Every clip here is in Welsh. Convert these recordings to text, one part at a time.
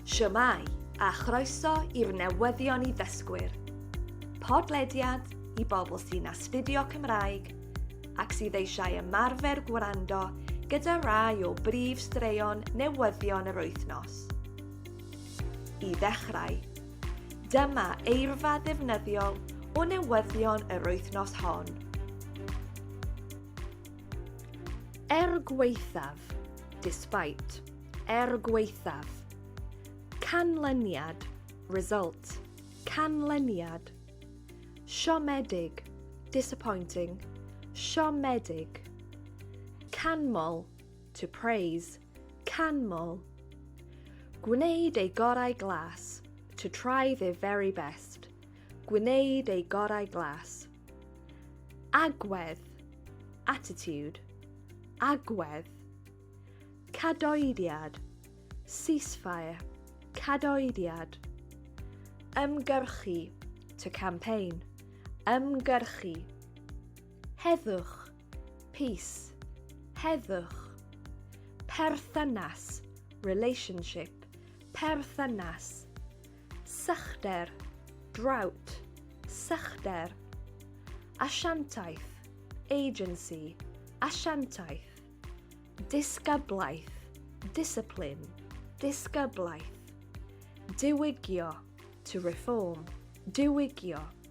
Shwmae, a chroeso i'r newyddion i ddysgwyr. Podlediad i bobl sy'n astudio Cymraeg ac sydd eisiau ymarfer gwrando gyda rai o brif straeon newyddion yr wythnos. I ddechrau, dyma eirfa ddefnyddiol o newyddion yr wythnos hon. Er gwaethaf, despite, er gwaethaf. Canlyniad, result, canlyniad. Siomedig, disappointing, siomedig. Canmol, to praise, canmol. Gwneud ei gorau glas, to try their very best. Gwneud ei gorau glas. Agwedd, attitude, agwedd. Cadoediad, ceasefire, cadoediad. Ymgyrchu, to campaign, ymgyrchu. Heddwch, peace, heddwch. Perthynas, relationship, perthynas. Sychder, drought, sychder. Asiantaeth, agency, asiantaeth. Disgyblaeth, discipline, disgyblaeth. Diwygio, to reform, diwygio.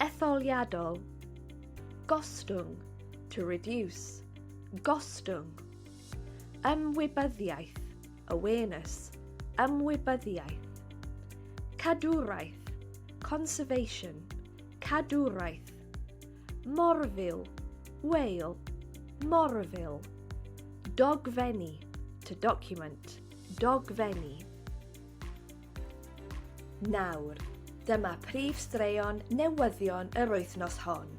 Etholiadol. Gostwng, to reduce. Gostwng. Ymwybyddiaeth, awareness. Ymwybyddiaeth. Cadwraeth, conservation. Cadwraeth. Morfil, whale. Morfil. Dogfenni, to document. Dogfenni. Nawr, dyma prif straeon newyddion yr wythnos hon.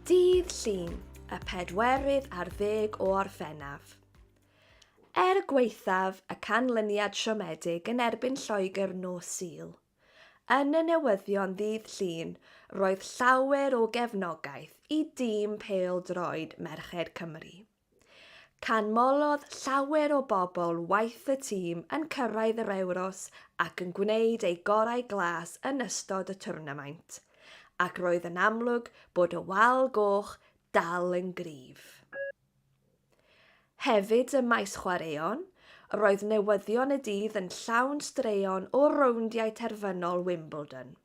Dydd Llun, y pedwerydd ar ddeg o Orffennaf. Er gwaethaf y canlyniad siomedig yn erbyn Lloegr nos Sul, yn y newyddion ddydd Llun roedd llawer o gefnogaeth i dîm pêl-droed merched Cymru. Canmolodd llawer o bobl waith y tîm yn cyrraedd yr Ewros ac yn gwneud eu gorau glas yn ystod y twrnamaint, ac roedd yn amlwg bod y Wal Goch dal yn gryf. Hefyd ym maes chwaraeon, roedd newyddion y dydd yn llawn straeon o rowndiau terfynol Wimbledon.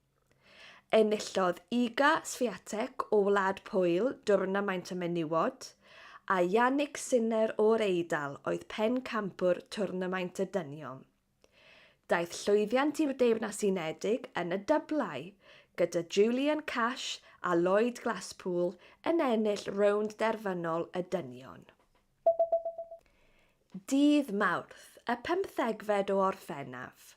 Enillodd Iga Swiatek o Wlad Pwyl dwrnamaint y menywod, a Yannick Sinner o'r Eidal oedd pencampwr twrnamaint y dynion. Daeth llwyddiant i'r Deyrnas Unedig yn y dyblau, gyda Julian Cash a Lloyd Glasspool yn ennill rownd derfynol y dynion. Dydd Mawrth, y pymthegfed o Orffennaf,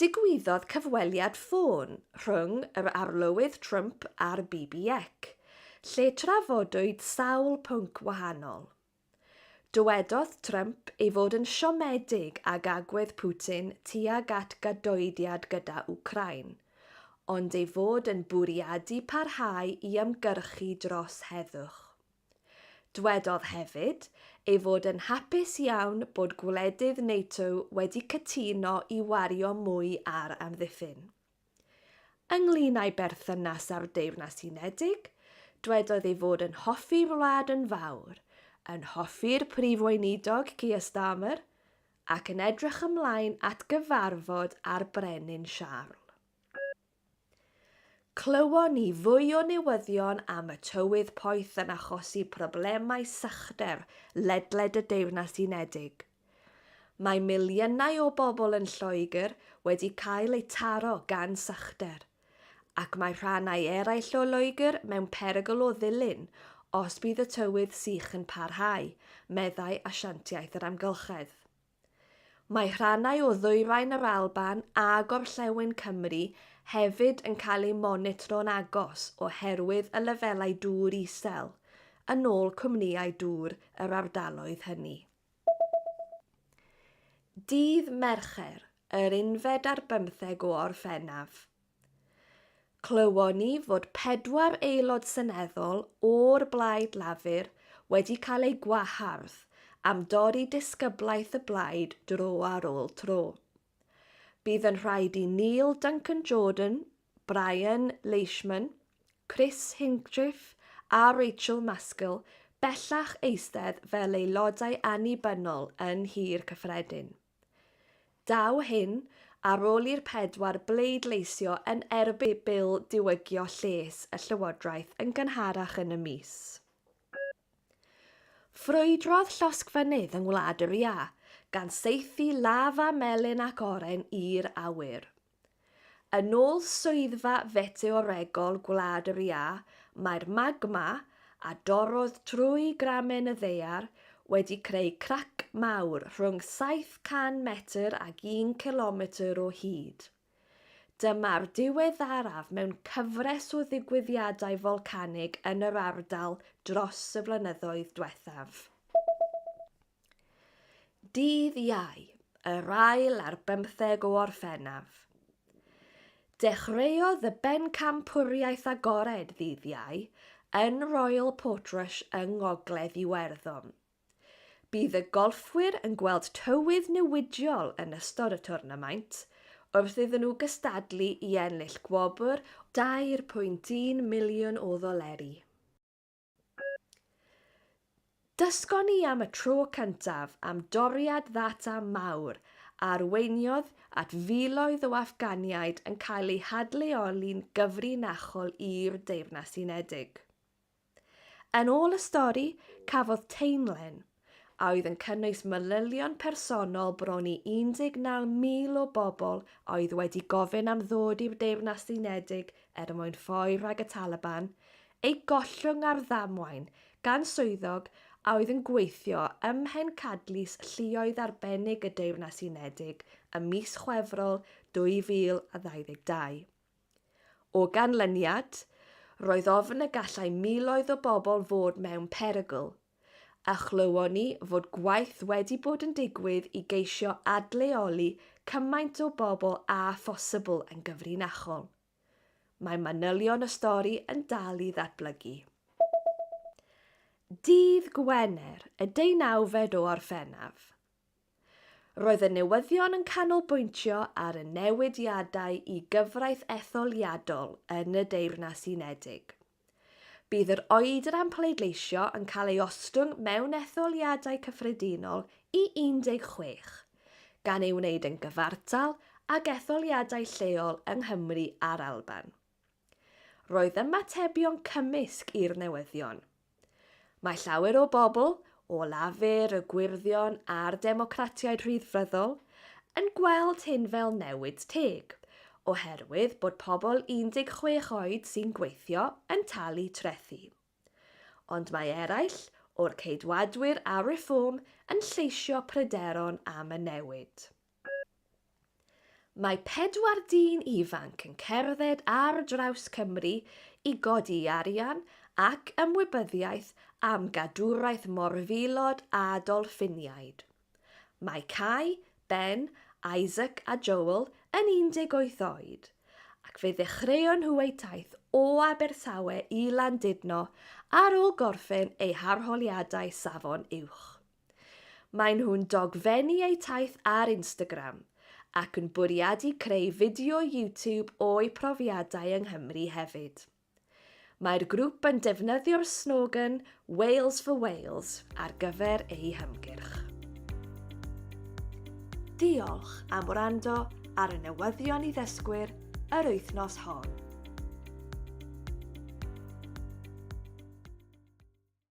Digwyddodd cyfweliad ffôn rhwng yr Arlywydd Trump a'r BBEC, lle trafodwyd sawl pwnc wahanol. Dywedodd Trump ei fod yn siomedig ag agwedd Putin tuag at gadoediad gyda Wcráin, ond ei fod yn bwriadu parhau i ymgyrchu dros heddwch. Dwedodd hefyd ei fod yn hapus iawn bod gwledydd NATO wedi cytuno i wario mwy ar amddiffyn. Ynglŷn â'i berthynas â'r Deyrnas Unedig, dwedodd ei fod yn hoffi'r wlad yn fawr, yn hoffi'r Prif Weinidog Keir Starmer ac yn edrych ymlaen at gyfarfod â'r Brenin Siarl. Clywon ni fwy o newyddion am y tywydd poeth yn achosi problemau sychder ledled y Deyrnas Unedig. Mae miliynau o bobl yn Lloegr wedi cael eu taro gan sychder, ac mae rhannau eraill o Loegr mewn perygl o ddilyn os bydd y tywydd sych yn parhau, meddai Asiantiaeth yr Amgylchedd. Mae rhannau o ddwyrain yr Alban a gorllewin Cymru hefyd yn cael eu monitro'n agos oherwydd y lefelau dŵr isel, yn ôl cwmnïau dŵr yr ardaloedd hynny. Dydd Mercher, yr unfed ar bymtheg o Orffennaf, Clywon ni fod pedwar Aelod Seneddol o'r Blaid Lafur wedi cael eu gwahardd am dorri disgyblaeth y blaid dro ar ôl tro. Bydd yn rhaid i Neil Duncan-Jordan, Brian Leishman, Chris Hinchliffe a Rachel Maskell bellach eistedd fel aelodau annibynnol yn Nhŷ'r Cyffredin. Daw hyn ar ôl i'r pedwar bleidleisio yn erbyn Bil Diwygio Lles y Llywodraeth yn gynharach yn y mis. Ffrwydrodd llosgfynydd yng Ngwlad yr Iâ, gan saethu lafa melyn ac oren i'r awyr. Yn ôl Swyddfa Feteoregol Gwlad yr Iâ, mae'r magma, a dorrodd trwy gramen y ddaear, wedi creu crac mawr rhwng 700 metr ag un cilometr o hyd. Dyma'r diweddaraf mewn cyfres o ddigwyddiadau folcanig yn yr ardal dros y flynyddoedd diwethaf. Dydd Iau, yr ail ar bymtheg o Orffennaf. Dechreuodd y bencampwriaeth agored ddydd Iau yn Royal Portrush yng Ngogledd Iwerddon. Bydd y golffwyr yn gweld tywydd newidiol yn ystod y twrnamaint, wrth iddyn nhw gystadlu i ennill gwobr o €2.1 miliwn o ddoleri. Dysgon ni am y tro cyntaf am doriad ddata mawr a arweiniodd at filoedd o Affganiaid yn cael eu hadleoli'n gyfrinachol i'r Deyrnas Unedig. Yn ôl y stori, cafodd Tainlen, a oedd yn cynnwys manylion personol bron i 19,000 o bobl a oedd wedi gofyn am ddod i'r Deyrnas Unedig er mwyn ffoi rhag y Taliban, eu gollwng ar ddamwain gan swyddog a oedd yn gweithio ym mhencadlys lluoedd arbennig y Deyrnas Unedig ym mis Chwefror 2022. O ganlyniad, roedd ofn y gallai miloedd o bobl fod mewn perygl, a chlywon ni fod gwaith wedi bod yn digwydd i geisio adleoli cymaint o bobl â phosibl yn gyfrinachol. Mae manylion y stori yn dal i ddatblygu. Dydd Gwener, y deunawfed o Orffennaf. Roedd y newyddion yn canolbwyntio ar y newidiadau i gyfraith etholiadol yn y Deyrnas Unedig. Bydd yr oedr am pleidleisio yn cael ei ostwng mewn etholiadau cyffredinol i 16, gan ei wneud yn gyfartal ag etholiadau lleol yng Nghymru a'r Alban. Roedd ymatebion cymysg i'r newyddion. Mae llawer o bobl, o Lafur, y Gwyrddion a'r Democratiaid Rhyddfryddol, yn gweld hyn fel newid teg, oherwydd bod pobl 16 oed sy'n gweithio yn talu trethi. Ond mae eraill o'r Ceidwadwyr a Reform yn lleisio pryderon am y newid. Mae pedwar dyn ifanc yn cerdded ar draws Cymru i godi arian ac ymwybyddiaeth am gadwraeth morfilod a dolffiniaid. Mae Cai, Ben, Isaac a Joel yn 18 oed, ac fe ddechreuon nhw eu taith o Abertawe i Landudno ar ôl gorffen eu harholiadau Safon Uwch. Maen nhw'n dogfennu eu taith ar Instagram ac yn bwriadu creu fideo YouTube o'u profiadau yng Nghymru hefyd. Mae'r grŵp yn defnyddio'r slogan 'Wales for Wales' ar gyfer eu hymgyrch. Diolch am wrando ar y newyddion i ddysgwyr yr wythnos hon.